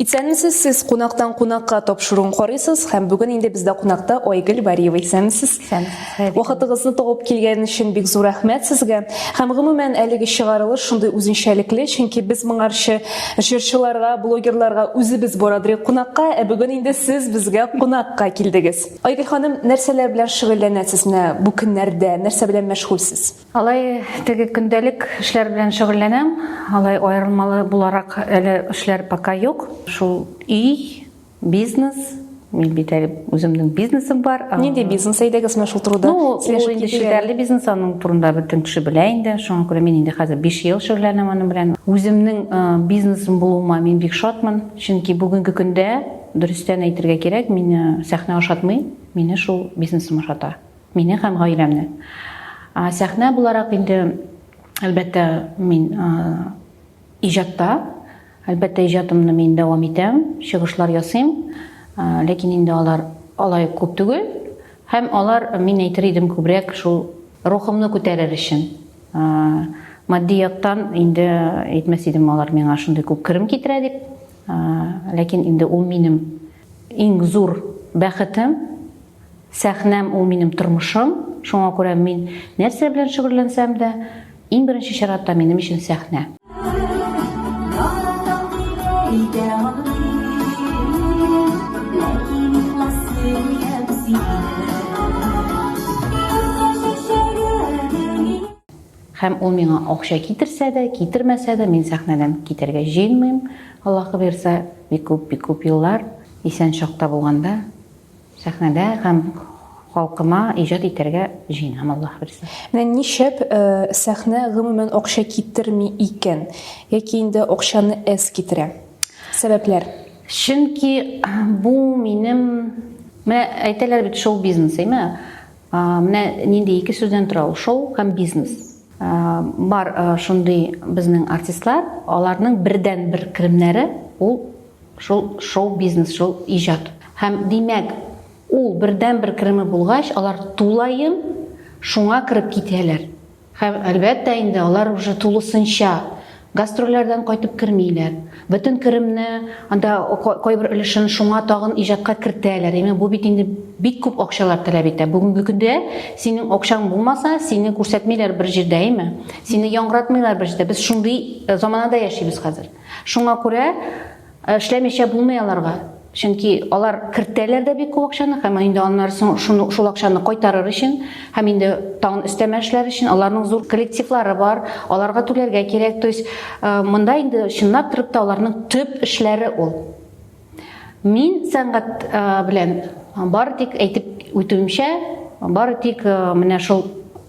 Исәнмесез, сез кунактан кунакка тапшыруын карыйсыз һәм бүген инде бездә кунакта Айгөл Бариева. Исәнмесез. Вакытыгызны табып килгән өчен бик зур рәхмәт сезгә. Һәм гомумән әлеге чыгарылыш шундый үзенчәлекле, чөнки без моңарчы җырчыларга, блогерларга үзебез барадыр кунакка, ә бүген инде сез безгә кунакка килдегез. Айгөл ханым, нәрсәләр белән шөгыльләнәсез менә бу көннәрдә? Нәрсә белән мәшгульсез? Алай теге көндәлек эшләр белән шөгыльләнәм. Алай аерылмалы буларак әле эшләр пока юк. Шул өй, бизнес, мин бит әле үземнең бизнесым бар. Нинди бизнес әйдәгез менә шул турыда? Ну, ул инде шелтәрле бизнес, аның турында бөтен кеше белә инде. Шуңа күрә мин инде хәзер 5 ел шөгыльләнәм аның белән. Үземнең бизнесым булуыма мин бик шатмын, чөнки бүгенге көндә Дөрестән әйтергә кирәк, мине сәхнә ошатмый, мине шул бизнесым ошата. Мине һәм гаиләмне. Сәхнә буларак инде, әлбәттә, мин иҗатта, әлбәттә, иҗатымны мин дәвам итәм, чыгышлар ясыйм, ләкин инде алар алай күп түгел, һәм алар, мин әйтер идем, күбрәк шул рухымны күтәрер өчен. Матди яктан инде әйтмәс идем, алар миңа шундый күп керем китерә дип. Ләкин инде ул минем иң зур бәхетем, сәхнәм ул минем тормышым. Шуңа күрә мин нәрсә белән шөгыльләнсәм дә, иң беренче чиратта минем өчен сәхнә. Һәм ул миңа акча китерсә дә, китермәсә дә, мин сәхнәдән китәргә җыенмыйм, Аллаһы боерса, бик күп, бик күп еллар, исән чакта булганда, сәхнәдә һәм халкыма иҗат итәргә җыенам, Аллаһы боерса. Менә ни шәп, сәхнә гомумән акча китерми икән, яки инде акчаны әз китерә. Сәбәпләр? Чөнки бу минем, менә әйтәләр бит шоу-бизнес, әйме? Менә нинди ике сүздән тора ул шоу һәм бизнес. Бар шундый безнең артистлар, аларның бердән бер керемнәре ул шул шоу бизнес, шул иҗат. Һәм димәк, ул бердән бер кереме булгач, алар тулаем шуңа кереп китәләр. Һәм, әлбәттә инде, алар уже тулысынча гастрольләрдән кайтып кермиләр. Бөтен керемне, анда кайбер өлешен шуңа тагын иҗатка кертәләр. Яме бу бит инде бик күп акчалар таләп итә. Бүгенге көндә синең акчаң булмаса, сине күрсәтмиләр бер җирдә, әйме? Сине яңгыратмыйлар бер җирдә. Без шундый заманада яшибез хәзер. Шуңа күрә Ә эшләмичә булмый аларга. Чөнки алар кертәләр дә бик күп акчаны, һәм инде аннары соң шуны шул акчаны кайтарыр өчен һәм инде тагын өстәмә эшләр өчен аларның зур коллективлары бар, аларга түләргә кирәк. То есть э, монда инде чынлап торып та аларның төп эшләре ул. Мин сәнгать э, белән Бары тик әйтеп үтүемчә, бары тик э, менә шул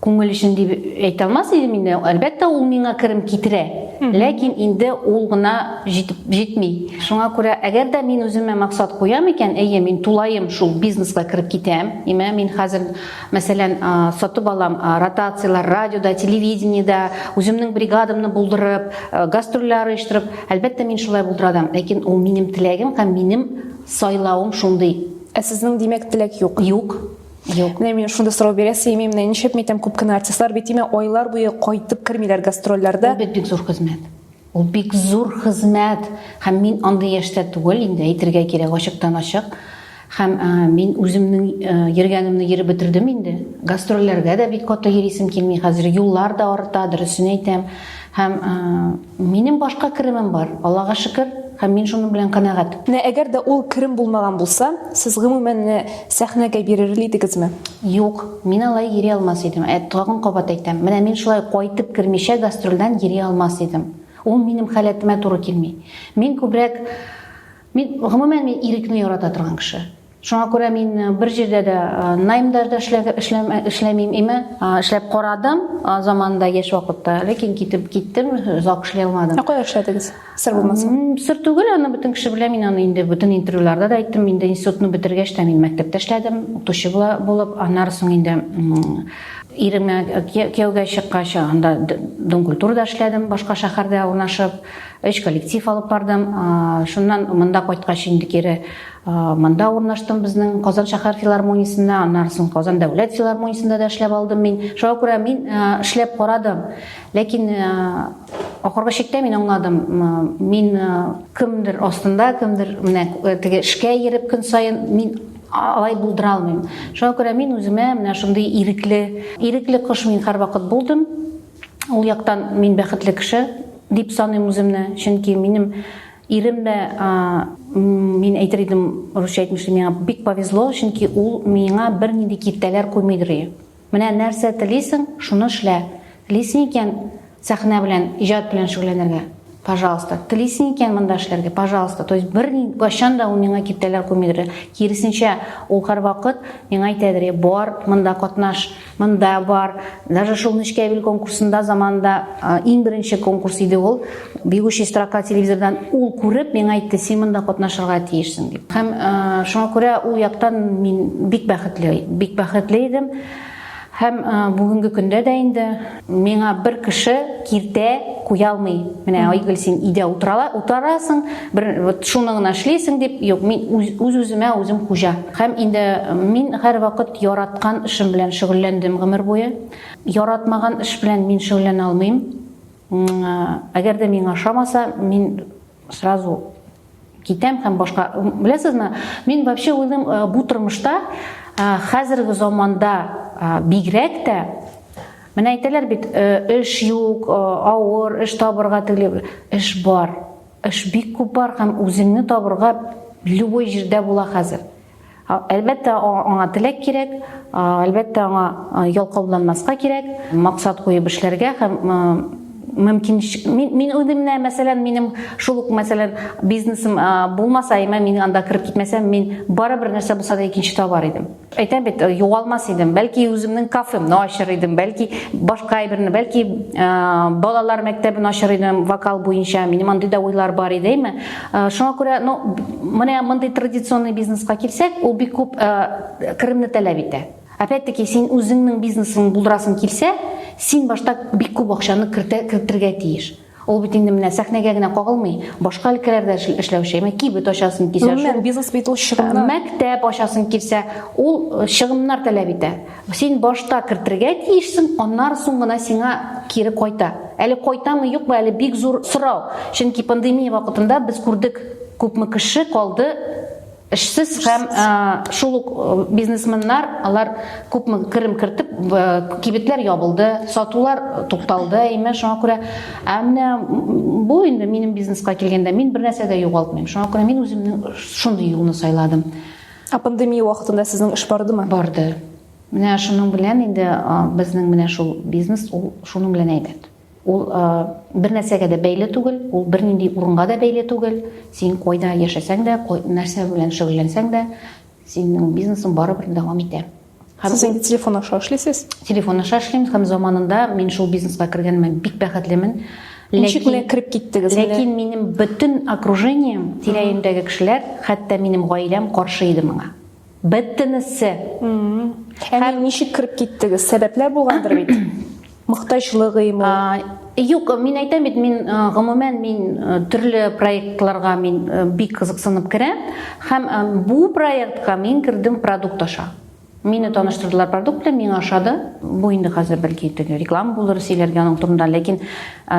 күңел өчен дип әйтә алмас идем инде. Әлбәттә, ул миңа керем китерә. Ләкин инде ул гына җитеп җитми. Шуңа күрә, әгәр дә мин үземә максат куям икән, әйе, мин тулаем шул бизнеска кереп китәм. Имә мин хәзер, мәсәлән, сатып алам ротацияләр радиода, телевидениедә, үземнең бригадамны булдырып, гастрольләр оештырып, әлбәттә, мин шулай булдырадам. Ләкин ул минем теләгем һәм минем Сайлавым шундый. Ә сезнең димәк теләк юк? Юк. Юк. Менә мин шундый сорау бирә сыймый, менә ничек митәм, күп кенә артистлар бит имә айлар буе кайтып кермиләр гастрольләрдә. Ул бит бик зур хезмәт. Ул бик зур хезмәт. Һәм мин андый яшьтә түгел инде, әйтергә кирәк, ачыктан-ачык. Һәм мин үземнең йөргәнемне йөреп бетердем инде. Гастрольләргә дә бик каты йөрисем килми хәзер, юллар да арта, дөресен әйтәм. Һәм Минем башка керемем бар, Аллага шөкер, һәм мин шуның белән канәгать. Менә әгәр дә ул керем булмаган булса, сез гомумән сәхнәгә бирерли идегезме? Юк, мин алай йөри алмас идем. Ә тагын кабат әйтәм, менә мин шулай кайтып кермичә гастрольдән йөри алмас идем. Ул минем халәтемә туры килми. Мин күбрәк мин гомумән мин ирекне ярата торган кеше. Шуңа күрә мин бер җирдә дә наймда да эшләмим име, эшләп карадым заманында яшь вакытта, ләкин китеп киттем, озак эшли алмадым. Ә кая эшләдегез? Сер булмаса. Сер түгел, аны бөтен кеше белә, мин аны инде бөтен интервьюларда да әйттем, инде институтны бетергәч тә мин мәктәптә эшләдем, укытучы булып, аннары соң инде иремә кияүгә чыккач, анда донкультурада эшләдем, башка шәһәрдә урнашып, өч коллектив алып бардым. Шуннан монда кайткач инде кире Монда урнаштым безнең Казан шәһәр филармониясендә, аннан соң Казан дәүләт филармониясендә дә эшләп алдым мин. Шуңа күрә мин эшләп карадым. Ләкин ахыргы чиктә мин аңладым, мин кемдер астында, кемдер менә теге эшкә йөреп көн саен мин алай булдыра алмыйм. Шуңа күрә мин үземә менә шундый ирекле, ирекле кош мин һәрвакыт булдым. Ул яктан мин бәхетле кеше дип саныйм үземне, чөнки минем Ирем дә, мин әйтер идем, русча әйтмешли, миңа бик повезло, чөнки ул миңа бернинди киртәләр куймый дори. Менә нәрсә телисең, шуны эшлә. Телисең икән, сәхнә белән, иҗат белән шөгыльләнергә, пожалуйста. Телисең икән монда эшләргә, пожалуйста. То есть бер кайчан да ул миңа киртәләр куймый дори. Киресенчә, ул һәрвакыт миңа әйтә дори, бар, монда катнаш. Монда бар. Даже шул Нечкәбил конкурсында заманында иң беренче конкурс иде ул. Бегущий строка телевизордан ул күреп миңа әйтте, син монда катнашырга тиешсең дип. Һәм шуңа күрә ул яктан мин бик бәхетле, бик бәхетле идем. Һәм бүгенге көндә дә инде Миңа бер кеше киртә куя алмый. Менә Айгөл син өйдә утырала, утырасың, бер вот шуны гына эшлисең дип, юк, мин үз-үземә үзем хуҗа. Һәм инде мин һәрвакыт яраткан эшем белән шөгыльләндем гомер буе. Яратмаган эш белән мин шөгыльләнә алмыйм. Әгәр дә миңа ошамаса, мин Сразу китәм һәм башка беләсезме мин вообще уйлыйм э, бу тормышта э, хәзерге заманда э, бигрәк тә менә әйтәләр бит эш юк авыр эш табырга тегеле эш бар эш бик күп бар һәм үзеңне табырга любой җирдә була хәзер Әлбәттә, аңа теләк кирәк, әлбәттә, аңа ялкауланмаска кирәк, максат куеп эшләргә һәм мөмкин мин, мин үзем дә мәсәлән минем шул ук мәсәлән бизнесым булмаса әмма мин анда кереп китмәсәм мин барыбер нәрсә булса да икенче табар идем әйтәм бит югалмас идем бәлки үземнең кафемны ачыр идем бәлки башка әйберне бәлки балалар мәктәбен ачыр идем вокал буенча минем андый да уйлар бар иде әмма Шуңа күрә, ну, менә мондый традиционный бизнеска килсәк, ул бик күп керемне таләп итә. Опять-таки, син үзеңнең бизнесың булдырасың килсә, син башта бик күп акчаны кертергә тиеш. Ул бит инде менә сәхнәгә генә кагылмый, башка өлкәләрдә эшләүче, әмма кибет ачасың килсә, шул бизнес бит ул чыгымнар. Мәктәп ачасың килсә, ул чыгымнар таләп итә. Син башта кертергә тиешсең, аннары соң гына сиңа кире кайта. Әле кайтамы, юкмы, әле бик зур сорау. Чөнки пандемия вакытында без күрдек, күпме кеше калды эшсез һәм шул ук бизнесменнар алар күпме керем кертеп кибетләр ябылды сатулар тукталды имә шуңа күрә ә менә бу инде минем бизнеска килгәндә мин бер нәрсә дә югалтмыйм шуңа күрә мин үземнең шундый юлны сайладым Ә пандемия вакытында сезнең эш бардымы? Барды. Менә шуның белән инде безнең менә шул бизнес ул шуның белән әйбәт. Ул бер нәрсәгә дә бәйле түгел, ул бернинди урынга да бәйле түгел. Син кайда яшәсәң дә, нәрсә белән шөгыльләнсәң дә, синең бизнесың барыбер дәвам итә. Һәм Сез инде телефон аша эшлисез? Телефон аша эшлим һәм заманында мин шул бизнеска кергәнемә бик бәхетлемен. Ничек менә кереп киттегез? Ләкин минем бөтен окружением, тирәемдәге кешеләр, хәтта минем гаиләм каршы иде моңа. Бөтенесе. Һәм ничек кереп киттегез? Сәбәпләр булгандыр бит. мохтаҗлык ыйму? Юк, мин әйтәм бит, мин гомумән мин төрле проектларга мин бик кызыксынып керәм һәм бу проектка мин кердем продукт аша. Мине таныштырдылар продукт белән, миңа ошады. Бу инде хәзер бәлки теге реклама булыр сөйләргә аның турында, ләкин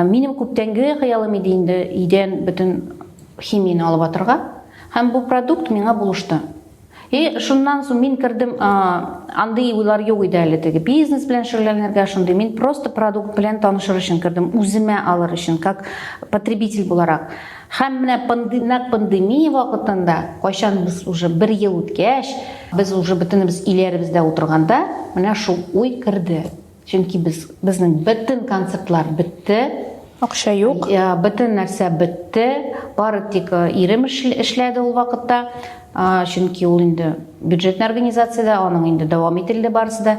минем күптәнге хыялым иде инде идән бөтен химияне алып атырга. Һәм бу продукт миңа булышты. И шуннан соң мин кердем, андый уйлар юк иде әле теге бизнес белән шөгыльләнергә шундый. Мин просто продукт белән танышыр өчен кердем, үземә алыр өчен, как потребитель буларак. Һәм менә пандемнак пандемия вакытында, кайчан без уже бер ел үткәч, без уже бөтенебез иләребездә утырганда, менә шул уй керде. Чөнки без безнең бөтен концертлар бетте. Акча юк. Э, бөтен нәрсә бетте. Бары тик э, ирем эшләде ул вакытта. Э, чөнки ул инде бюджетный организациядә, аның инде дәвам ителде барысы да.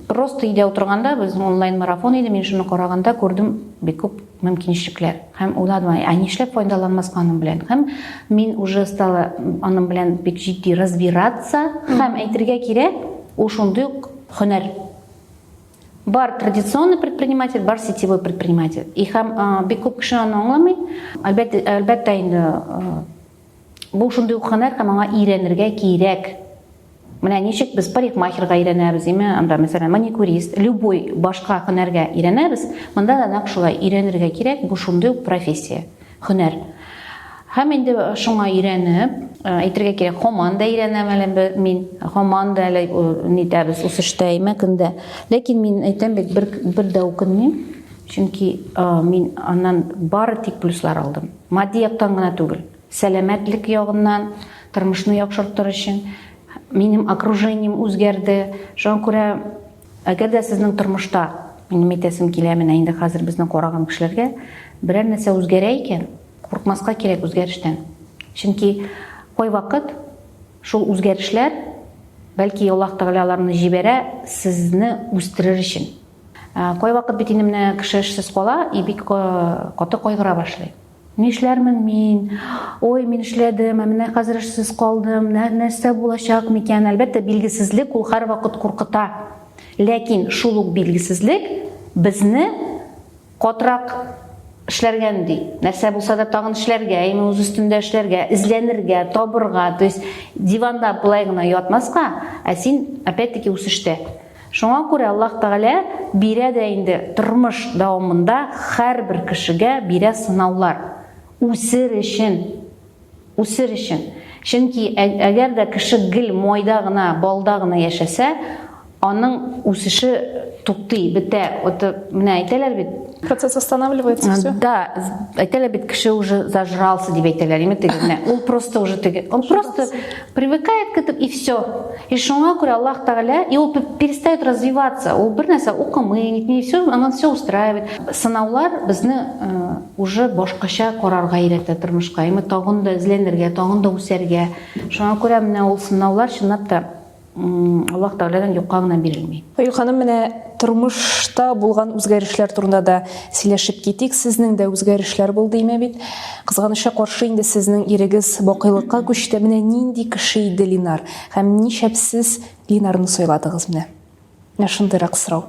Просто өйдә утырганда безнең онлайн марафон иде. Мин шуны караганда күрдем бик күп мөмкинчелекләр. Һәм уйладым, ә нишләп файдаланмаска аның белән? Һәм мин уже стала аның белән бик җитди разбираться. Һәм әйтергә кирәк, ул шундый ук һөнәр бар традиционный предприниматель бар сетевой предприниматель и һәм бик күп кеше аны аңламый әлбәттә әлбәттә инде бу шундый ук һөнәр һәм аңа өйрәнергә кирәк менә ничек без парикмахерга өйрәнәбез име анда мәсәлән маникюрист любой башка һөнәргә өйрәнәбез монда да нәкъ шулай өйрәнергә кирәк бу шундый ук профессия Һөнәр. Һәм инде шуңа өйрәнеп, әйтергә кирәк, һаман да өйрәнәм әле мин, һаман да әле нитәбез, үсештәйме көндә. Ләкин мин әйтәм бит, бер, бер дә үкенмим, чөнки мин аннан бары тик плюслар алдым. Матди яктан гына түгел, сәламәтлек ягыннан, тормышны яхшыртыр өчен, минем окружением үзгәрде. Шуңа күрә Әгәр дә сезнең тормышта, минем әйтәсем килә, менә инде хәзер безнең караган кешеләргә берәр нәрсә үзгәрә икән, курыкмаска кирәк үзгәрештән. Чөнки кайвакыт шул үзгәрешләр, бәлки Аллаһ Тәгалә аларны җибәрә сезне үстерер өчен. Кайвакыт бит инде менә кеше эшсез кала и бик каты кайгыра башлый. Нишләрмен мин? Ой, мин эшләдем, ә менә хәзер эшсез калдым. Нәрсә булачак микән? Әлбәттә, билгесезлек ул һәрвакыт куркыта. Ләкин шул ук билгесезлек безне катрак эшләргә өнди. Нәрсә булса да тагын эшләргә, яме үз өстендә эшләргә, эзләнергә, табырга, то есть диванда былай гына ятмаска, ә син опять-таки үсештә. Шуңа күрә Аллаһ Тәгалә бирә дә инде тормыш дәвамында һәрбер кешегә бирә сынаулар. Үсер өчен. Үсер өчен. Чөнки әгәр дә кеше гел майда гына, балда гына яшәсә, аның үсеше туктый, бетә. Вот менә әйтәләр бит, Процесс останавливается, все? Да, әйтәләр бит, кеше уже зажрался дип әйтәләр, име тегенә. Ул просто уже теге, он просто привыкает к этому и все. И шуңа күрә Аллах Тагала, и ул перестает развиваться. Ул бер нәрсә укымый, нитми, все, анан все устраивает. Сынаулар безне э, уже башкача карарга өйрәтә тормышка. Име тагын да эзләнергә, тагын да үсәргә. Шуңа күрә менә ул сынаулар чынлап та Аллаһ Тәгаләдән юкка гына бирелми. Аю ханым, менә тормышта булган үзгәрешләр турында да сөйләшеп китик. Сезнең дә үзгәрешләр булды име бит? Кызганычка каршы инде сезнең ирегез бакыйлыкка күчте. Менә нинди кеше иде Линар һәм нишләп сез Линарны сайладыгыз менә? Менә шундыйрак сорау.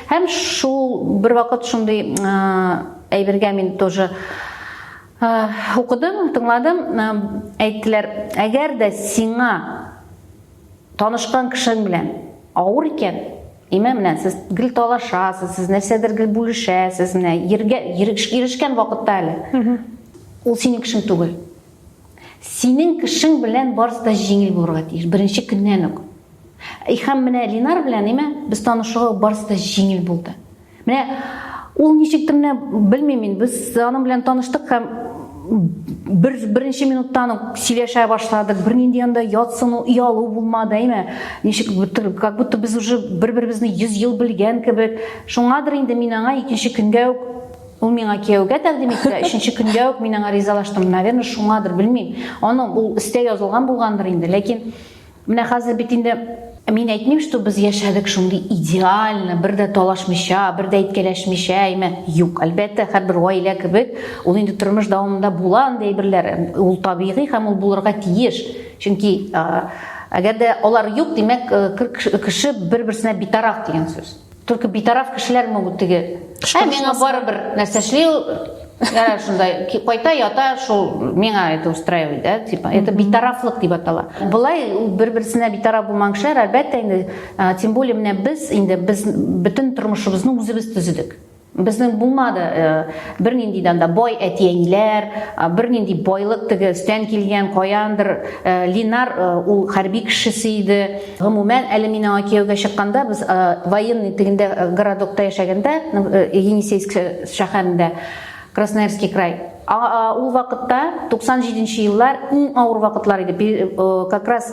Һәм шул бер вакыт шундый әйбергә мин тоже укыдым, тыңладым, әйттеләр, әгәр дә сиңа танышкан кешең белән авыр икән, имә менә сез гел талашасыз, сез нәрсәдер гел бүлешәсез, менә ергә ирешкән вакытта әле. Ул синең кешең түгел. Синең кешең белән барысы да җиңел булырга тиеш, беренче көннән үк. Һәм менә Линар белән име без танышуы барысы да җиңел булды. Менә ул ничек тә менә белмим мин, без аның белән таныштык һәм бер беренче минуттан ук сөйләшә башладык. Бернинди анда ятсыну, ялу булмады, әйме? Ничек бутыр, как будто без уже бер-беребезне 100 ел белгән кебек. Шуңадыр инде мин аңа икенче көнгә үк ул миңа кияүгә тәкъдим итте, өченче көнгә үк мин аңа ризалаштым. Наверное, шуңадыр, белмим. Аның ул истә язылган булгандыр инде, ләкин Менә хәзер бит инде мин әйтмим, что без яшәдек шундый идеально, бер дә талашмыйча, бер дә әйткәләшмичә, әйме. Юк, әлбәттә, һәрбер гаилә кебек, ул инде тормыш дәвамында була андый әйберләр. Ул табигый һәм ул булырга тиеш. Чөнки әгәр дә алар юк, димәк, кеше бер-берсенә битараф дигән сүз. Только битараф кешеләр ме ул теге? Ә миңа барыбер нәрсә эшли ул. Ярар шундай кайта ята шул миңа это устраивает, да, типа. Это битарафлык дип атала. Булай бер-берсенә битараф булмаган кешеләр әлбәттә инде, тем более менә без инде без бөтен тормышыбызны үзебез төзедек. Безнең булмады э, бернинди данда бай әти-әниләр, бернинди байлык теге өстән килгән каяндыр. Э, Линар э, ул хәрби кешесе иде. Гомумән, әле мин аңа кияүгә чыкканда, без э, военный тегендә э, городокта яшәгәндә, э, Енисейск шәһәрендә, Красноярский край, ул вакытта 97 нче еллар иң авыр вакытлар иде. Как раз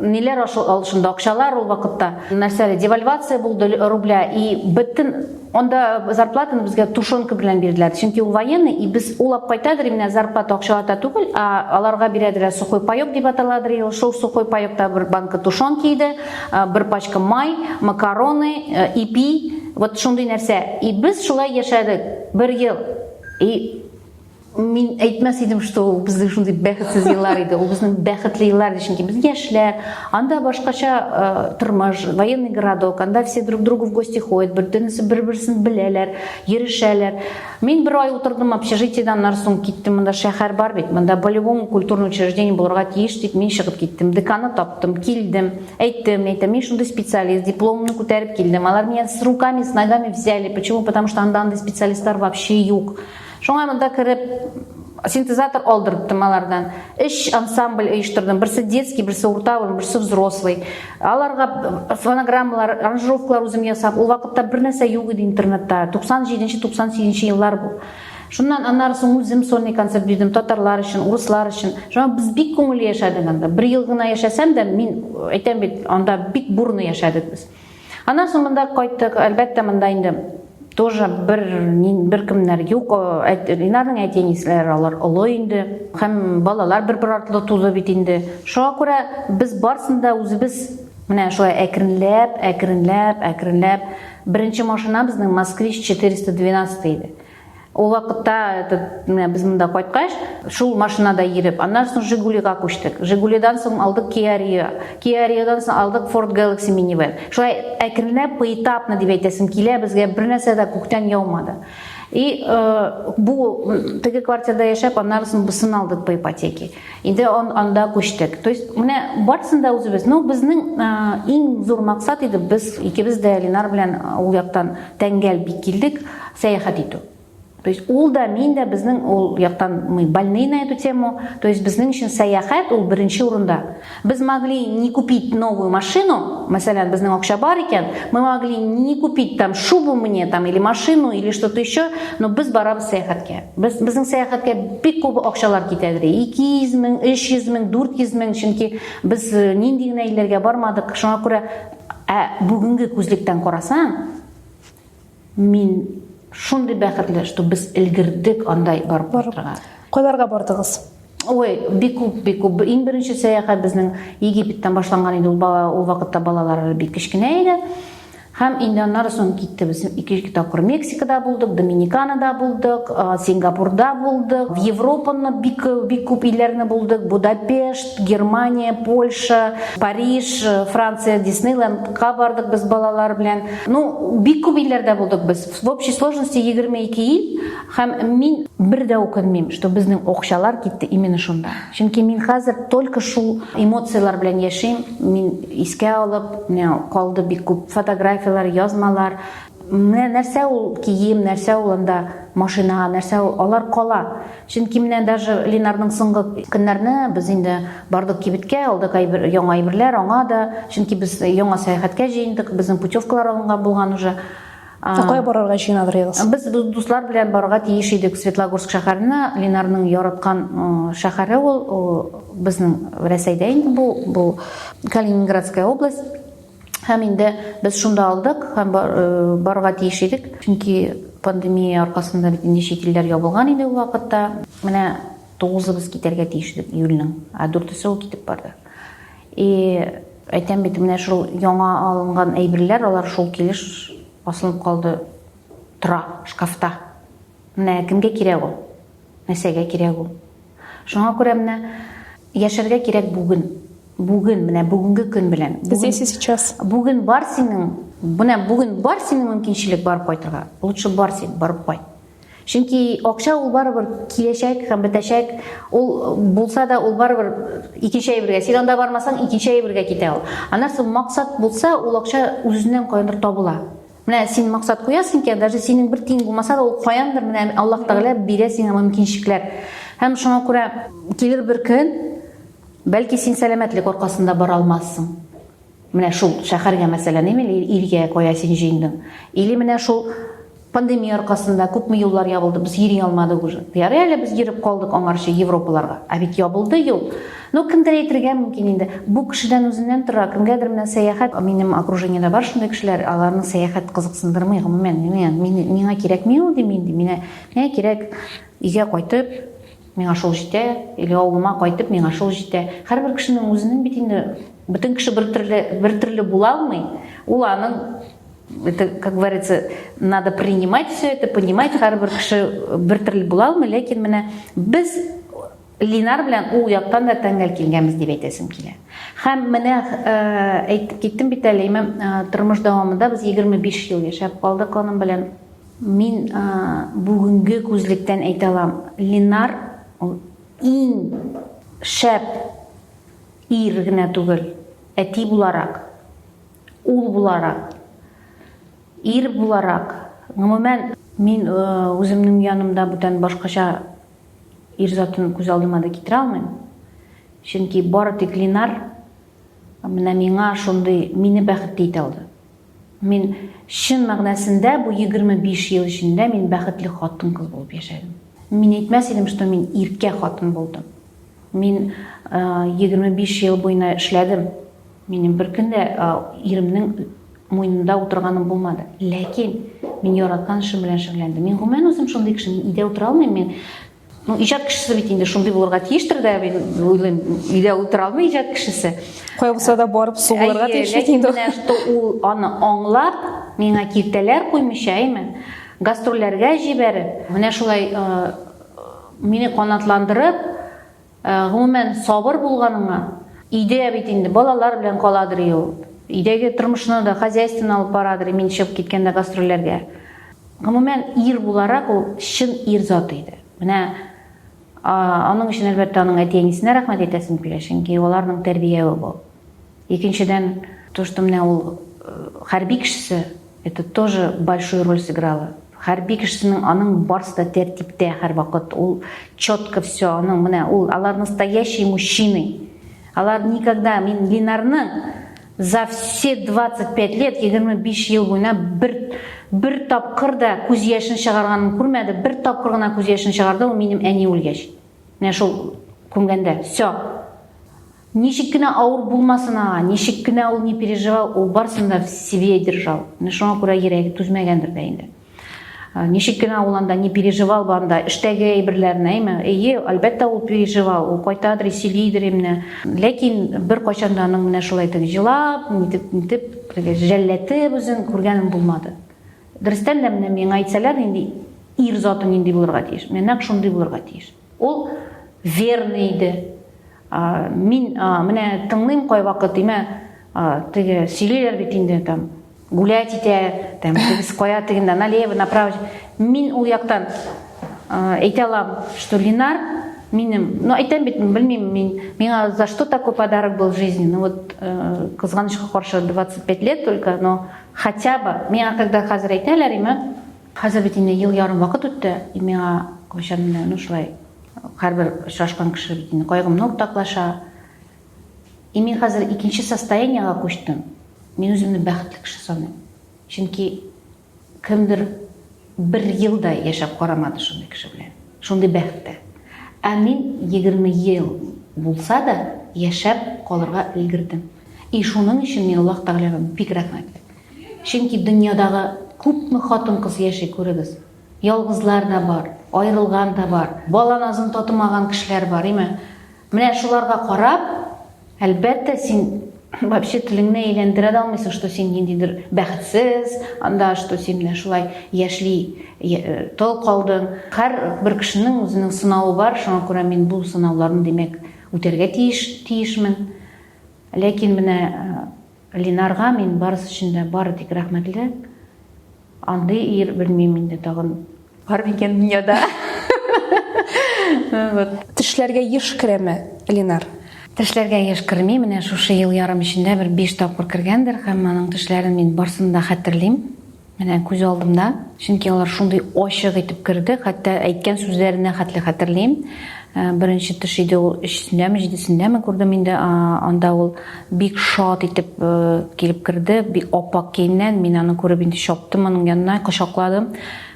ниләр алышында акчалар ул вакытта нәрсә девальвация булды рубля и бөтен Анда зарплатаны безгә тушенка белән бирделәр, чөнки ул военный, и без улап кайтадыр, именно зарплата акчалата түгел, а аларга бирәдер сухой паек дип аталадыр, и шул сухой паекта бер банка тушенки иде, бер пачка май, макароны, э, ипи, вот шундый нәрсә. И без шулай яшәдек бер ел. И мин әйтмәс идем что ул безнең шундый бәхетсез еллар иде ул безнең бәхетле еллар чөнки без яшьләр анда башкача э, тормыш военный городок анда все друг другу в гости ходят бөтенесе бер берсен беләләр йөрешәләр мин бер ай утырдым общежитиеда аннан соң киттем монда шәһәр бар бит монда по любому культурный учреждение булырга тиеш дип мин чыгып киттем деканы таптым килдем әйттем әйтәм мин шундый специалист дипломымны күтәреп килдем алар меня с руками с ногами взяли почему потому что анда андай специалистлар вообще юк Шуңа монда кереп синтезатор алдырттым алардан. Эш ансамбль оештырдым. Берсе детский, берсе урта, берсе взрослый. Аларга фонограммалар, аранжировкалар үзем ясап, ул вакытта бер нәрсә юк иде интернетта. 97-98 еллар бу. Шуннан аннары соң үзем сольный концерт бирдем татарлар өчен, урыслар өчен. Шуңа без бик күңелле яшәдек анда. Бер ел гына яшәсәм дә, мин әйтәм бит, анда бик бурно яшәдек без. Аннан соң монда кайттык, әлбәттә, монда инде тоже бер бер кемнәр юк, Ринарның әти-әниләре алар олы инде, һәм балалар бер-бер артлы тузы бит инде. Шуңа күрә без барсын да үзебез менә шулай әкренләп, әкренләп, әкренләп. Беренче машинабызның Москвич 412 иде. Ул вакытта этот, менә без монда кайткач, шул машинада йөреп, аннан соң Жигулига күчтек. Жигулидан соң алдык Kia Rio. Kia Rioдан соң алдык Ford Galaxy Minivan. Шулай әкренләп, поэтапно дип әйтәсем килә, безгә бер нәрсә дә күктән яумады. И э, бу теге квартирада яшәп, аннан соң бусын алдык по ипотеке. Инде он, анда күчтек. То есть, менә барсын да үзебез. Ну, безнең ә, иң зур максат иде, без икебез дә Ленар белән ул яктан тәңгәл бик килдек, сәяхәт итү. То есть, ул да, мин дә безнең ул яктан мы больны на эту тему. То есть, безнең өчен сәяхәт ул беренче урында. Без могли не купить новую машину, мәсәлән, безнең акча бар икән, мы могли не купить там шубу мне там или машину или что-то еще, но без барабыз сәяхәткә. Без, безнең сәяхәткә бик күп акчалар китә иде. 200 мең, 300 мең, 400 мең, чөнки без э, нинди генә илләргә бармадык. Шуңа күрә ә бүгенге күзлектән карасаң, мин шундый бәхетле, что без элгердек андай барып барырга. Кайларга бардыгыз? Ой, бик күп, бик күп. Иң беренче сәяхәт безнең Египеттан башланган иде. Ул бала, ул вакытта балалар бик кечкенә иде. Һәм инде аннары соң китте без ике-ике тапкыр Мексикада булдык, Доминиканада булдык, Сингапурда булдык, в Европаны бик бик күп илләрне булдык, Будапешт, Германия, Польша, Париж, Франция, Диснейлендка бардык без балалар белән. Ну, бик күп илләрдә булдык без. В общей сложности 22 ил. Һәм мин бер дә үкенмим, что безнең акчалар китте именно шунда. Чөнки мин хәзер только шул эмоцияләр белән яшим. Мин искә алып, менә калды бик күп фотографияләр, язмалар. Менә нәрсә ул кием, нәрсә ул анда машина, нәрсә ул, алар кала. Чөнки менә даже Ленарның соңгы көннәрне без инде бардык кибеткә, алдык әйбер, яңа әйберләр аңа да. Чөнки без яңа сәяхәткә җыендык, безнең путевкалар алынган булган уже. Ә кая барырга җыеналырыгыз? Без дуслар белән барырга тиеш идек Светлогорск шәһәренә. Ленарның яраткан шәһәре ул, безнең Рәсәйдә инде бу, бу Калининградская область. Һәм инде без шунда алдык һәм барырга тиеш идек. Чөнки пандемия аркасында бит инде чит илләр ябылган иде ул вакытта. Менә тугызыбыз китәргә тиеш идек июльнең, ә дүртесе ул китеп барды. И әйтәм бит, менә шул яңа алынган әйберләр, алар шул килеш асылып калды, тора шкафта. Менә кемгә кирәк ул? Нәрсәгә кирәк ул? Шуңа күрә менә яшәргә кирәк бүген. Бүген, менә бүгенге көн белән. Здесь и сейчас. Бүген бар синең, менә бүген бар синең мөмкинчелек барып кайтырга. Лучше бар син, барып кайт. Чөнки акча ул барыбер киләчәк һәм бетәчәк. Ул булса да ул барыбер икенче әйбергә. Син анда бармасаң, икенче әйбергә китә ул. Аннан соң максат булса, ул акча үзеннән каяндыр табыла. Менә син максат куясың икән, даже синең бер тиң булмаса да, ул каяндыр менә Аллаһ Тәгалә бирә сиңа мөмкинчелекләр. Һәм шуңа күрә килер бер көн, бәлки син сәламәтлек аркасында бара алмассың. Менә шул шәхәргә мәсәлән, имел илгә кая син җыендың? Или менә шул пандемия аркасында күпме юллар ябылды, без йөри алмадык уже. Ярый әле без йөреп калдык аңарчы Европаларга. Ә бит ябылды юл. Ну, кемдер әйтергә мөмкин инде. Бу кешедән үзеннән тора. Кемгәдер менә сәяхәт, минем окружениедә бар шундый кешеләр, аларны сәяхәт кызыксындырмый гомумән. Миңа кирәкми ул, дим мин, миңа кирәк өйгә кайтып, Миңа шул җитә, или авылыма кайтып, миңа шул җитә. Һәрбер кешенең үзенең бит инде бөтен кеше бер төрле, бер төрле була алмый. Ул аның это, как говорится, надо принимать все это, понимать, һәрбер кеше бер төрле була алмый, ләкин менә без Линар белән ул яктан да тәңгәл килгәнбез дип әйтәсем килә. Һәм менә э, әйтеп киттем бит әле, имам э, тормыш дәвамында без 25 ел яшәп калдык аның белән. Мин бүгенге күзлектән әйтә алам, Ленар ул иң шәп ир генә түгел, әти буларак, ул буларак, ир буларак, гомумән, мин үземнең янымда бүтән башкача ир затын күз алдыма да китерә алмыйм. Чөнки бары тик Ленар менә миңа шундый мине бәхетле итә алды. Мин чын мәгънәсендә бу 25 ел эчендә мин бәхетле хатын-кыз булып яшәдем. Мин әйтмәс идем, что мин иркә хатын булдым. Мин 25 э, ел буена эшләдем. Минем бер көн дә э, иремнең муенында утырганым булмады. Ләкин мин яраткан эшем белән шөгыльләндем. Мин гомумән үзем шундый кеше, мин өйдә утыра алмыйм, мин Ну, иҗат кешесе бит инде шундый булырга тиештер дә, мин уйлыйм, өйдә утыра алмый иҗат кешесе. Кая булса да барып сугылырга тиеш бит инде. Менә что ул аны аңлап, миңа киртәләр куймыйча, әйме? Гастрольләргә җибәреп, менә шулай э, мине канатландырып, Гомумән, сабыр булганыңа, өйдә бит инде балалар белән каладыр ул. Өйдәге тормышны да, хозяйствоны алып барадыр, мин чыгып киткәндә гастрольләргә. Гомумән, ир буларак ул чын ир заты иде. Менә аның өчен, әлбәттә, аның әти-әнисенә рәхмәт әйтәсем килә, чөнки аларның тәрбияве бу. Икенчедән, то, что менә ул хәрби кешесе, это тоже большую роль сыграло. Хәрби кешесенең аның барсы да тәртиптә һәрвакыт, ул четко все, аның менә ул алар настоящий мужчины. Алар никогда мин Линарны за все 25 лет, 25 ел буена бер бер тапкыр да күз яшен чыгарганын күрмәде, бер тапкыр гына күз яшен чыгарды ул минем әни үлгәч. Менә шул күмгәндә. Все. Ничек кенә авыр булмасын аңа, ничек кенә ул не переживал, ул барсын да в себе держал. Менә шуңа күрә йөрәге түзмәгәндер дә инде. Э, ничек кенә ул анда не переживал банда эштәге әйберләрне әйме әйе әлбәттә ул переживал ул кайтадыр сөйлидер имне ләкин бер кайчан да аның менә шулай итеп җылап нитеп нитеп жәлләтеп үзен күргәнем булмады дөрестән дә менә миңа әйтсәләр нинди ир заты нинди булырга тиеш менә нәкъ шундый булырга тиеш Ул верный иде. Мин менә тыңлыйм кайвакыт, имә теге сөйлиләр бит инде там гулять итә, там без кая тегендә налево, направо. Мин ул яктан әйтә алам, что Линар минем, ну әйтәм бит, белмим мин, миңа за что такой подарок был в жизни. Ну вот э, кызганычка каршы 25 лет только, но хотя бы миңа когда хәзер әйтәләр, имә Хәзер бит инде ел ярым вакыт үтте, и миңа кайчан менә ну шулай һәрбер очрашкан кеше бит инде кайгымны уртаклаша. И мин хәзер икенче состояниега күчтем. Мин үземне бәхетле кеше саныйм. Чөнки кемдер бер ел да яшәп карамады шундый кеше белән. Шундый бәхеттә. Ә мин 20 ел булса да яшәп калырга өлгердем. И шуның өчен мин Аллаһ Тәгаләгә бик рәхмәтле. Чөнки дөньядагы күпме хатын-кыз яши, күрегез. Ялгызлар да бар, аерылган да бар, бала назын татымаган кешеләр бар, име? Менә шуларга карап, әлбәттә, син вообще телеңне әйләндерә дә алмыйсың, что син ниндидер бәхетсез, анда что син менә шулай яшьли э, тол калдың. Һәр бер кешенең үзенең сынавы бар, шуңа күрә мин бу сынауларны, димәк, үтәргә тиеш, тиешмен. Ләкин менә э, Линарга мин барысы өчен дә бары тик рәхмәтле. Андый ир белмим инде тагын бар микән дөньяда. Вот. Тешләргә еш керәме Линар? Тешләргә еш керми, менә шушы ел ярым эчендә бер биш тапкыр кергәндер һәм аның тешләрен мин барсын да хәтерлим. Менә күз алдымда, чөнки алар шундый ачык итеп керде, хәтта әйткән сүзләренә хәтле хәтерлим. Э, беренче төш иде ул өчсендәме, җидесендәме күрдем инде, анда ул бик шат итеп э, килеп керде, бик апак киенгән, мин аны күреп инде чаптым аның янына, кочакладым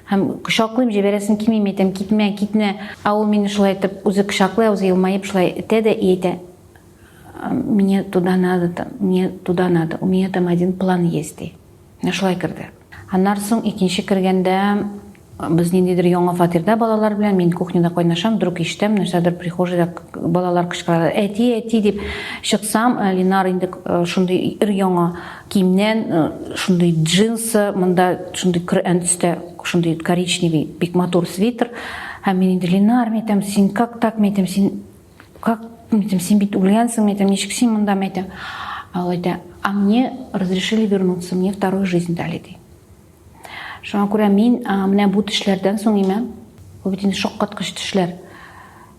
һәм кочаклыйм җибәрәсем килми мин әйтәм китмә китмә ә ул мине шулай итеп үзе кочаклый үзе елмаеп шулай итә дә и әйтә мне туда надо мне туда надо у меня там один план есть ди Шулай керде. Аннан соң икенче кергәндә без ниндидер яңа фатирда балалар белән мин кухняда кайнашам вдруг ишетәм нәрсәдер прихожийда балалар кычкыралар әти әти дип чыксам э, линар инде э, шундый ир яңа киемнән э, шундый джинсы монда шундый көрән төстә шундый коричневый бик матур свитер һәм мин инде линар мен әйтәм син как так мен әйтәм син как мен айтамын сен бүйтіп өлгенсің мен айтамын нешік сен мында мен айтамын ал айтады а мне разрешили вернуться мне вторую жизнь дали дейді шуңа күрә мин менә бу төшләрдән соң имән бу бит инде шаккаткыч төшләр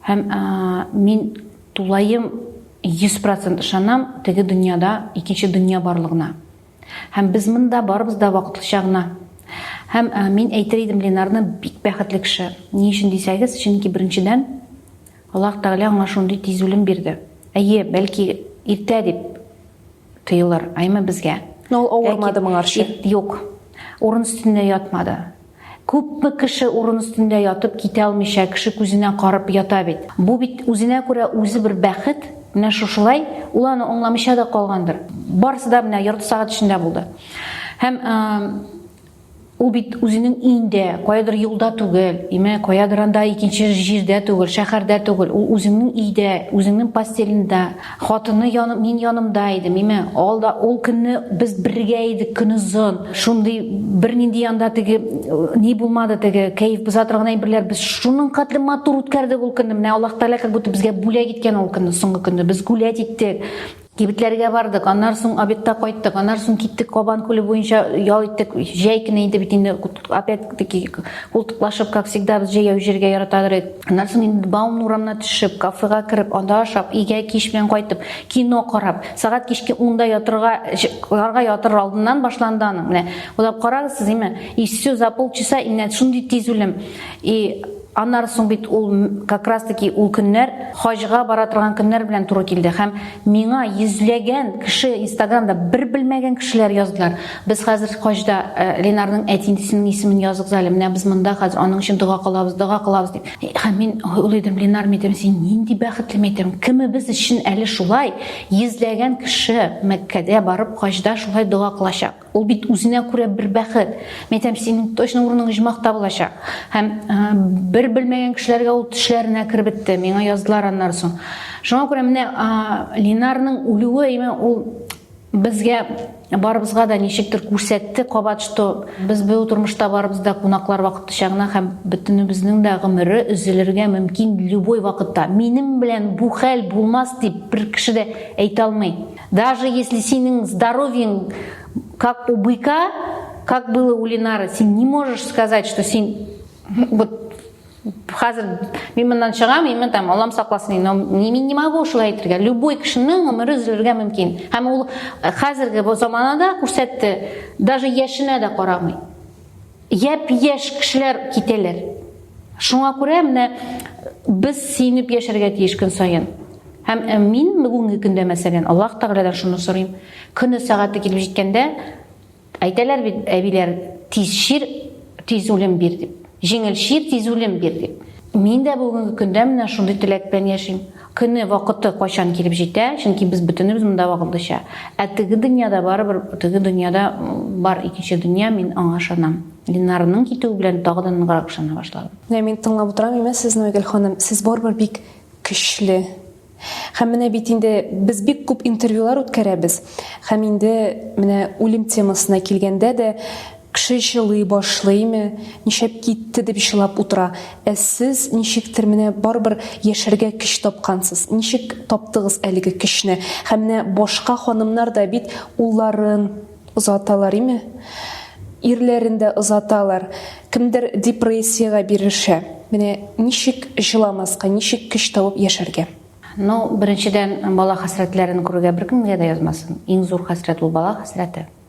һәм мин тулаем йөз процент ышанам теге дөньяда икенче дөнья барлыгына һәм без монда барыбыз да вакытлыча гына һәм мин әйтер идем ленарны бик бәхетле кеше ни өчен дисәгез чөнки беренчедән Аллаһ Тәгалә аңа шундый тиз үлем бирде. Әйе, бәлки иртә дип тоелыр, аймы безгә. Но ул авырмады моңарчы. Юк. Урын өстендә ятмады. Күпме кеше урын өстендә ятып китә алмыйча, кеше күзенә карап ята бит. Бу бит үзенә күрә үзе бер бәхет. Менә шушылай ул аны аңламыйча да калгандыр. Барысы да менә ярты сәгать эчендә булды. Һәм Ул бит үзенең өендә, каядыр юлда түгел, имә каядыр анда икенче җирдә түгел, шәһәрдә түгел. Ул үзеңнең өйдә, үзеңнең постелендә, хатыны яны, мин янымда идем, имә алда ул көнне без бергә идек көн озын. Шундый бернинди анда теге ни булмады теге кәеф бозатыр гына берләр. Без шуның кадәр матур үткәрдек ул көнне. Менә Аллаһ Тәгалә как будто безгә бүләк иткән ул көнне, соңгы көнне. Без гулять иттек. Кибетләргә бардык, аннар соң обедта кайттык, аннар соң киттек Кабан күле буенча ял иттек. Җәй көне инде бит инде опять таки култыклашып, как всегда, без җәяү җиргә яратадыр идек. Аннан соң инде Баумн урамына төшеп, кафега кереп, анда ашап, өйгә кич белән кайтып, кино карап, сәгать кичке 10 ятырга, карга ятыр алдыннан башланды аның. Менә, уйлап карагыз сез, име? И все за полчаса, именно шундый тиз үлем. И Аннары соң бит ул как раз таки ул көннәр хаҗга бара торган көннәр белән туры килде һәм миңа йөзләгән кеше инстаграмда бер белмәгән кешеләр яздылар. Без хәзер хаҗда э, Ленарның әтинесенең исемен языгыз әле. Менә без монда хәзер аның өчен дога кылабыз, дога кылабыз дип. Э, һәм мин уйлыйдым, Ленар мәйтәм, син нинди бәхетле мәйтәм. Кемебез өчен әле шулай йөзләгән кеше Мәккәдә барып хаҗда шулай дога кылачак. Ул бит үзенә күрә бер бәхет. Мин әйтәм, синең точно урының оҗмахта булачак. Һәм бер белмәгән кешеләргә ул төшләренә кереп бетте. Миңа яздылар аннары соң. Шуңа күрә менә Линарның үлүе, имә ул безгә барыбызга да ничектер күрсәтте кабат, что без бу тормышта барыбыз да кунаклар вакытлыча гына һәм бөтенебезнең дә гомере өзелергә мөмкин любой вакытта. Минем белән бу хәл булмас дип бер кеше дә әйтә алмый. Даже если синең здоровьең как у быка, как было у Ленары, син не можешь сказать, что син вот хәзер мин моннан чыгам именно там аллам сакласын но мин не могу шулай әйтергә любой кешенең гомере өзелергә мөмкин һәм ул хәзерге заманада күрсәтте даже яшенә дә карамый Япь-яшь кешеләр китәләр. Шуңа күрә менә без сөенеп яшәргә тиеш көн саен. Һәм э, мин бүгенге көндә, мәсәлән, Аллаһ Тәгаләдән шуны сорыйм. Көне сәгате килеп җиткәндә, әйтәләр бит әбиләр, тиз чир, тиз үлем бир дип. Җиңел чир, тиз үлем бир дип. Мин дә бүгенге көндә менә шундый теләк белән яшим. Көне, вакыты кайчан килеп җитә, чөнки без бөтенебез монда вакытлыча. Ә теге дөньяда барыбер, теге дөньяда бар икенче дөнья, мин аңа ышанам. Ленарның китүе белән тагы да ныграк ышана башладым. Менә мин тыңлап утырам имә сезне, Айгөл ханым, сез барыбер бик көчле. Һәм менә бит инде без бик күп интервьюлар үткәрәбез. Һәм инде менә үлем темасына килгәндә дә Кеше җылый башлыймы, нишләп китте дип җылап утыра. Ә сез ничектер менә барыбер яшәргә көч тапкансыз. Ничек таптыгыз әлеге көчне? Һәм менә башка ханымнар да бит улларын озаталар име? Ирләрен дә озаталар. Кемдер депрессиягә бирешә. Менә ничек җыламаска, ничек көч табып яшәргә? Ну, беренчедән, бала хәсрәтләрен күрергә беркемгә дә язмасын. Иң зур хәсрәт ул бала хәсрәте.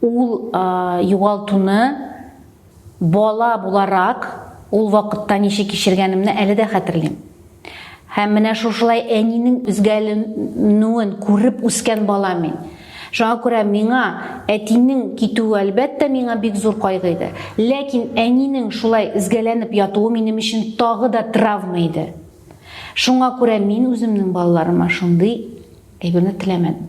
Ул югалтуны бала буларак ул вакытта ничек кичергәнемне әле дә хәтерлим. Һәм менә шушылай әнинең үзгәленүен күреп үскән бала мин. Шуңа күрә миңа әтинең китүе әлбәттә миңа бик зур кайгы иде. Ләкин әнинең шулай изгәләнеп ятуы минем өчен тагы да травма иде. Шуңа күрә мин үземнең балаларыма шундый әйберне теләмәдем.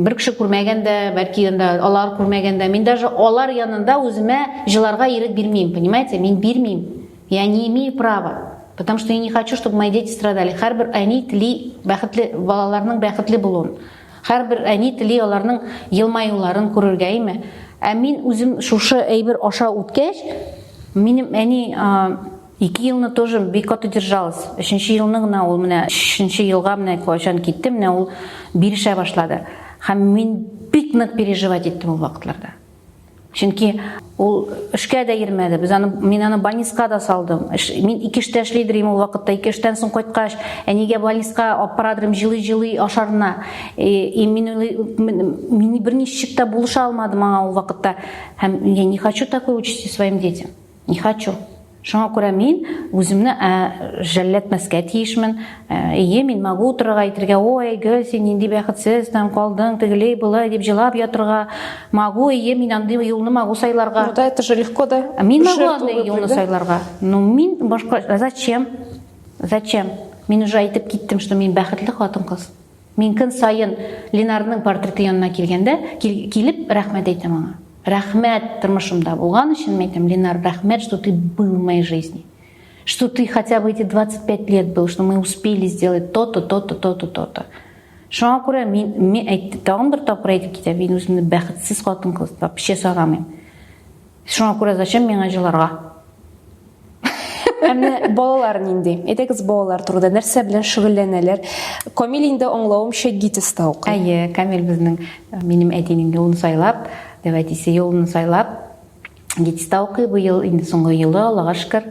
Бер кеше күрмәгән дә, бәлки анда алар күрмәгән дә. Мин даже алар янында үземә җыларга ирек бирмим, понимаете? Мин бирмим. Я не имею права. Потому что я не хочу, чтобы мои дети страдали. Һәрбер әни тели бәхетле балаларның бәхетле булуын. Һәрбер әни тели аларның елмаюларын күрергә, әйме? Ә мин үзем шушы әйбер аша үткәч, минем әни Ике елны тоже бик каты держалась. Өченче елны гына ул менә өченче елга менә кайчан китте, менә ул бирешә башлады. Һәм мин бик нык переживать иттем ул вакытларда. Чөнки ул эшкә дә йөрмәде. Без аны мин аны больниска да салдым. Эш, мин ике эштә эшли идем ул вакытта. Ике эштән соң кайткач, әнигә больниска алып барадым җылый-җылый ашарына. И, и мин мин берничек тә булыша алмадым аңа ул вакытта. Һәм я не хочу такой участи своим детям. Не хочу. Шуңа күрә мин үземне жәлләтмәскә тиешмен. Ие, мин могу утырырга әйтергә, ой, гөл, син нинди бәхетсез, там калдың, тегелей, былай дип җылап ятырга. Могу, ие, мин андый юлны могу сайларга. Ну да, это же легко, да? Мин могу андый юлны сайларга. Ну, мин башка, зачем? Зачем? Мин уже әйтеп киттем, что мин бәхетле хатын-кыз. Мин көн саен Ленарның портреты янына килгәндә, килеп рәхмәт әйтәм аңа. Рәхмәт тормышымда булган өчен әйтәм, Ленар, рәхмәт, что ты был в моей жизни. Что ты хотя бы эти 25 лет был, что мы успели сделать то-то, то-то, то-то, то-то. Шуңа күрә мин, мин әйтте, тагын бер тапкыр әйтеп китәм, мин үземне бәхетсез хатын-кыз дип вообще санамыйм. Шуңа күрә зачем миңа җыларга? Әмма балалар нинди? Әйтегез балалар турында нәрсә белән шөгыльләнәләр? Камил инде аңлавымча ГИТИСта укый. Әйе, Камил безнең э, минем әтинең инде ул сайлап, дип әтисе юлын сайлап, ГИТИСта укый бу ел инде соңгы елы, Аллага шөкер.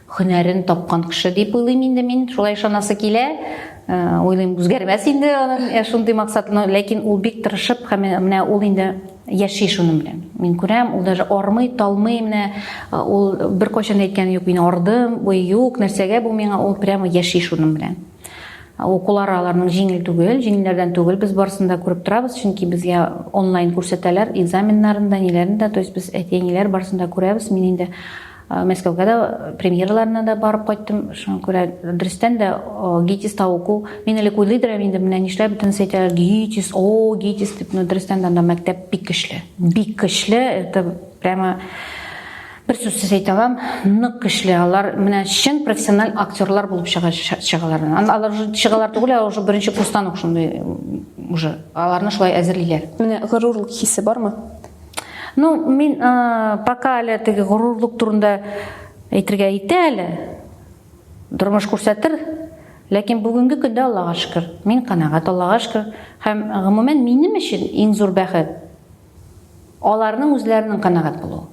Һөнәрен тапкан кеше дип уйлыйм инде мин, шулай ышанасы килә. Уйлыйм, үзгәрмәс инде аның шундый максатны, ләкин ул бик тырышып, һәм менә ул инде яши шуның белән. Мин күрәм, ул даже армый, талмый, менә ул беркайчан әйткән юк, мин ардым, ой, юк, нәрсәгә бу миңа, ул прямо яши шуның белән. Укулары аларның җиңел түгел, җиңелләрдән түгел, без барысын да күреп торабыз, чөнки безгә онлайн күрсәтәләр экзаменнарын да, ниләрен дә, то есть без әти-әниләр барысын да күрәбез, мин инде Мәскәүгә дә премьераларына да барып кайттым. Шуңа күрә дөрестән дә гитис тавыку. Мин элек уйлый дөрәм инде, менә нишләп бөтен сәйтә гитис, о, гитис дип, но дөрестән дә анда мәктәп бик көчле. Бик көчле, это прямо бер сүзсез әйтә алам, нык көчле. Алар менә чын профессиональ актерлар булып чыга чыгалар. Алар уже чыгалар түгел, алар уже беренче курстан ук шундый уже. Аларны шулай әзерлиләр. Менә горурлык хисе бармы? Ну, мин ә, пока әле теге горурлык турында әйтергә итә әле. Тормыш күрсәтер. Ләкин бүгенге көндә Аллага шөкер, мин канәгать Аллага шөкер. Һәм гомумән минем өчен иң зур бәхет аларның үзләренең канәгать булуы.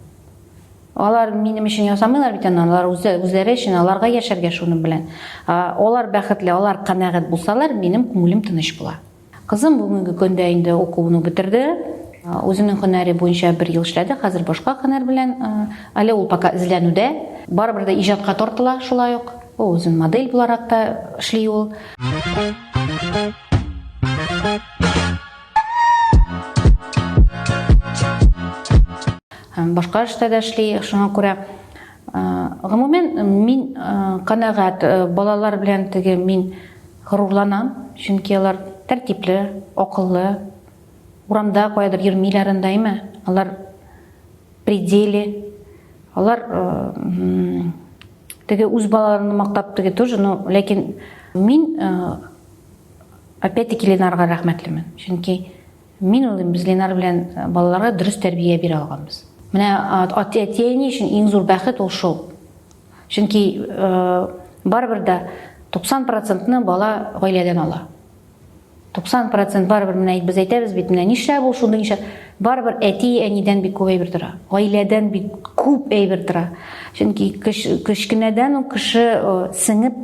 Алар минем өчен ясамыйлар бит аны, алар үзләре өчен, аларга яшәргә шуның белән. Алар бәхетле, алар канәгать булсалар, минем күңелем тыныч була. Кызым бүгенге көндә инде укуын бетерде. Үзенең һөнәре буенча бер ел эшләде, хәзер башка һөнәр белән, әле ул пока эзләнүдә. Барыбер дә иҗатка тартыла шулай ук. Үзен модель буларак та эшли ул. Һәм башка эштә дә эшли, шуңа күрә гомумән мин канәгать балалар белән теге мин Горурланам, чөнки алар тәртипле, акыллы, урамда каядыр йөрмиләр андаймы, алар пределе, алар теге үз балаларын мактап теге тоже, но ләкин мин опять-таки Ленарга рәхмәтлемен, чөнки мин уйлыйм, без Ленар белән балаларга дөрес тәрбия бирә алганбыз. Менә әти-әни өчен иң зур бәхет ул шул. Чөнки барыбер дә 90 процентны бала гаиләдән ала. 90 процент барыбер менә без әйтәбез бит, менә нишләп ул шундый нишләп? Барыбер әти, әнидән бик күп әйбер тора. Гаиләдән бик күп әйбер тора. Чөнки кечкенәдән үк кеше сеңеп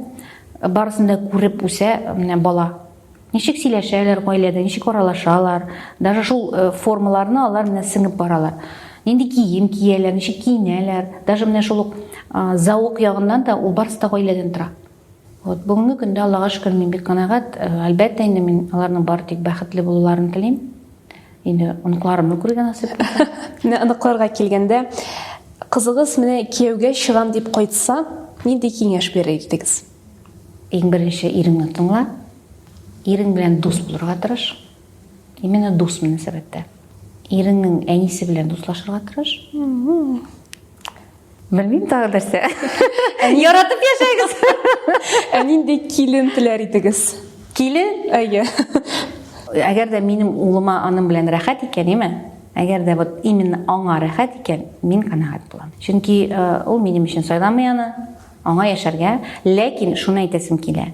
барысын да күреп үсә менә бала. Ничек сөйләшәләр гаиләдә, ничек аралашалар, даже шул э, формаларны алар менә сеңеп баралар. Нинди кием кияләр, ничек киенәләр, даже менә шул ук э, зауык ягыннан да ул барысы да гаиләдән тора. Вот бүгенге көндә Аллага шөкер мин бик канәгать. Э, әлбәттә инде мин аларның бары тик бәхетле булуларын телим. Инде оныкларымны күргән насыйп. Менә оныкларга килгәндә, кызыгыз менә кияүгә чыгам дип кайтса, нинди киңәш бирер идегез? Иң беренче иреңне тыңла, ирең белән дус булырга тырыш. Именно дус мөнәсәбәттә. Иреңнең әнисе белән дуслашырга тырыш. Белмим тагы нәрсә. Яратып яшәгез. Ә нинди килен теләр идегез? Килен? Әйе. Әгәр дә минем улыма аның белән рәхәт икән, яме? Әгәр дә вот именно аңа рәхәт икән, мин канәгать булам. Чөнки э, ул минем өчен сайламый аны, Аңа яшәргә, ләкин шуны әйтәсем килә,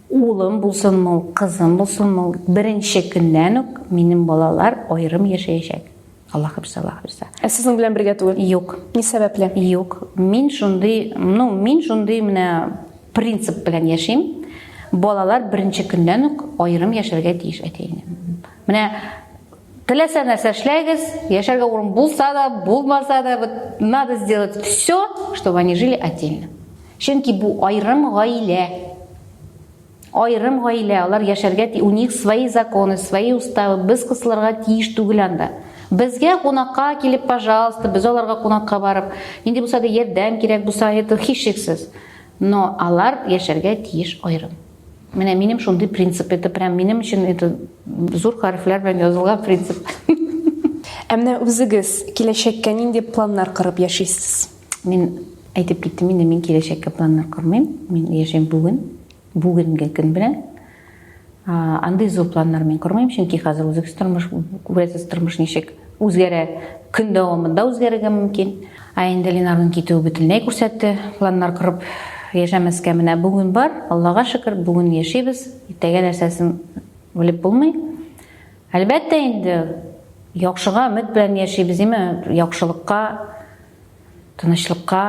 улым булсынмы ул, кызым булсынмы ул, беренче көннән үк минем балалар аерым яшәячәк. Аллаһ хәфизә, Аллаһ хәфизә. Ә сезнең белән бергә түгел? Юк. Ни сәбәпле? Юк. Мин шундый, ну, мин шундый менә принцип белән яшим. Балалар беренче көннән үк аерым яшәргә тиеш әти-әнидән. Менә Теләсә нәрсә эшләгез, яшәргә урын булса да, булмаса да, вот надо сделать все, чтобы они жили отдельно. Чөнки бу айрым гаилә. Айрым гаилә, алар яшәргә у них свои законы, свои уставы. Без кысылырга тиеш түгел анда. Безгә кунакка килеп, пожалуйста, без аларга кунакка барып, нинди булса да ярдәм кирәк булса, это һичшиксез. Но алар яшәргә тиеш айрым. Менә минем шундый принцип, это прям минем өчен это зур хәрефләр белән язылган принцип. Ә менә үзегез киләчәккә нинди планнар корып яшисез? Мин әйтеп киттем инде, мин киләчәккә планнар кормыйм. Мин яшәйм бүген, бүгенге көн белән. Андый зур планнар мин кормыйм, чөнки хәзер үзегез тормыш, күрәсез тормыш ничек. Үзгәрә, көн дәвамында үзгәрергә мөмкин. Ә инде Ленарның китүе бөтенләй күрсәтте, планнар корып яшәмәскә менә бүген бар, Аллага шөкер, бүген яшибез, иртәгә нәрсәсен белеп булмый. Әлбәттә инде яхшыга өмет белән яшибез, име, яхшылыкка, тынычлыкка,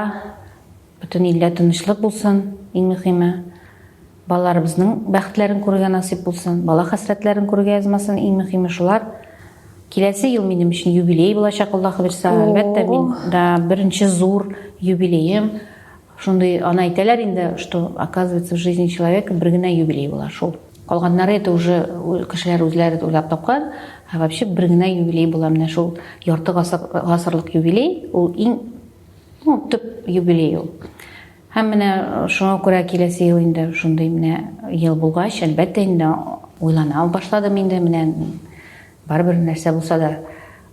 Бөтен илдә тынычлык булсын, иң мөхиме. Балаларыбызның бәхетләрен күрергә насыйп булсын, бала хәсрәтләрен күрергә язмасын, иң мөхиме шулар. Киләсе ел минем өчен юбилей булачак, Аллаһ бирсә, әлбәттә, мин да беренче зур юбилеем. Шундый, аны әйтәләр инде, что, оказывается, в жизни человека бер генә юбилей була, шул. Калганнары это уже кешеләр үзләре уйлап тапкан, ә вообще бер генә юбилей була, менә шул ярты гасыр, гасырлык юбилей, ул иң Ну, төп юбилей ул. Һәм менә шуңа күрә киләсе ел инде шундый менә ел булгач, әлбәттә инде уйлана башладым инде менә барыбер нәрсә булса да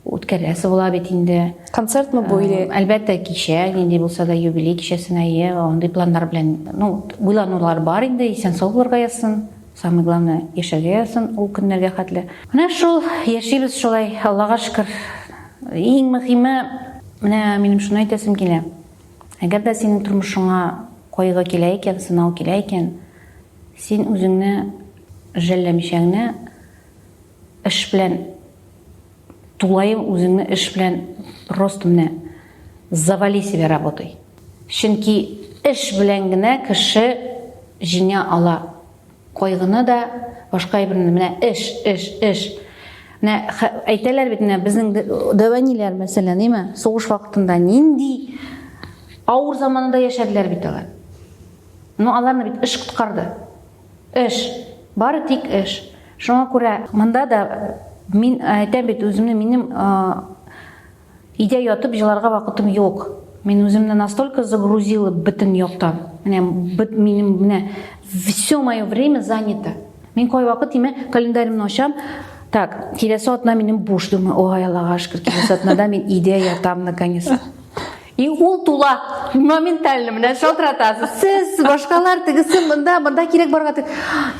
үткәрәсе була бит инде. Концертмы бу или? Әлбәттә кичә, нинди булса да юбилей кичәсенә, е, андый планнар белән, ну, уйланулар бар инде, исән сау булырга язсын. Самый главное яшәргә язсын ул көннәргә хәтле. Менә шул яшибез шулай, Аллага шөкер. Иң мөхиме, менә минем шуны әйтәсем килә. Әгәр дә синең тормышыңа кайгы килә икән, сынау килә икән, син үзеңне жәлләмичә генә Эш белән тулаем үзеңне эш белән просто менә завали себя работай. Чөнки эш белән генә кеше җиңә ала. Кайгыны да, башка әйберне менә эш, эш, эш. Менә әйтәләр бит менә безнең дәваниләр мәсәлән, әйме? Сугыш вакытында нинди авыр заманында яшәделәр бит алар. Ну, аларны бит эш коткарды. Эш. Бары тик эш. Шуңа күрә монда да мин әйтәм бит үземне минем өйдә ятып җыларга вакытым юк. Мин үземне настолько загрузила бөтен яктан. Менә минем менә все мое время занято. Мин кайвакыт тимә календаримны ачам. Так, киләсе атна минем буш думаю. Ой, Аллага шөкер, киләсе атнада мин өйдә ятам наконец. И ул тула моментально менә шалтыратасыз сез башкалар тегесе мында мында кирәк барга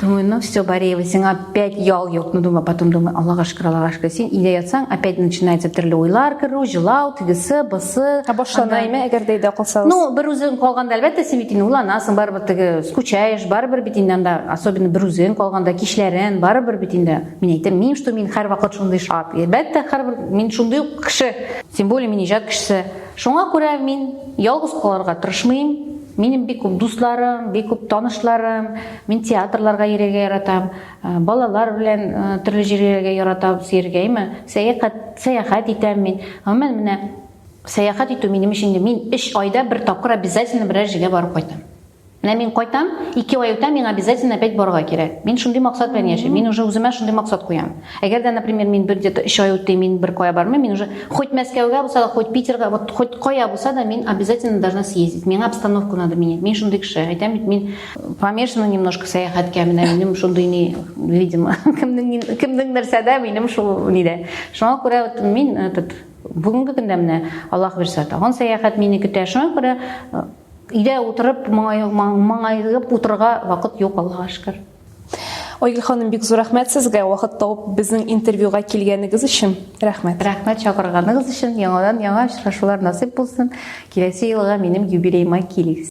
думаю ну все бореева сиңа опять ял юк ну думаю потом думаю аллага шөкер аллага шөкер син өйдә ятсаң опять начинается төрле уйлар керү жылау тегесе бысы башлана име әгәр дә өйдә калсагыз ну бер үзең калганда әлбәттә син бит инде уйланасың барыбер теге скучаешь барыбер бит инде анда особенно бер үзең калганда кичләрен барыбер бит инде мин әйтәм мин что мин һәрвакыт шундый шат әлбәттә һәрбер мин шундый ук кеше Тем более мин иҗат кешесе. Шуңа күрә мин ялгыз калырга тырышмыйм. Минем бик күп дусларым, бик күп танышларым, мин театрларга йөрергә яратам, э, балалар белән э, төрле җирләргә яратам, сергәйме, сәяхәт, сәяхәт итәм мин. Гомумән менә сәяхәт итү минем өчен мин 3 айда бер тапкыр обязательно берәр җиргә барып кайтам. Менә мин кайтам, ике ай үтә, миңа обязательно опять барырга кирәк. Мин шундый максат белән яшим. Мин уже үземә шундый максат куям. Әгәр дә, например, мин бер где-то 3 ай үтте, мин бер кая бармыйм, мин уже хоть Мәскәүгә булса да, хоть Питерга, вот хоть кая булса да, мин обязательно должна съездить. Миңа обстановку надо менять. Мин шундый кеше. Әйтәм бит, мин помешана немножко сәяхәткә, менә минем шундый ни, видимо, кемнең кемнең нәрсәдә, минем шул нидә. Шуңа күрә вот мин этот бүгенге көндә менә Аллаһ бирсә, тагын сәяхәт мине көтә. Шуңа күрә Өйдә утырып, маңайгып утырырга вакыт юк, Аллага шөкер. Айгөл ханым, бик зур рәхмәт сезгә вакыт тауып безнең интервьюга килгәнегез өчен. Рәхмәт. Рәхмәт чакырганыгыз өчен. Яңадан яңа очрашулар насыйп булсын. Киләсе елга минем юбилеема килегез.